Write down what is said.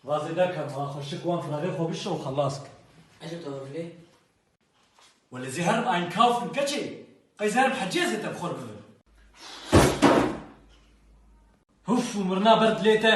Vazê derke ma xwe şik wan firarê xwe bişo û xelas ke. Ece tu hevlê? Welê zê herim einkaufen keçê. Qey zê herim hecê zê tevxor bibin. Huf û mirina ber dilê te.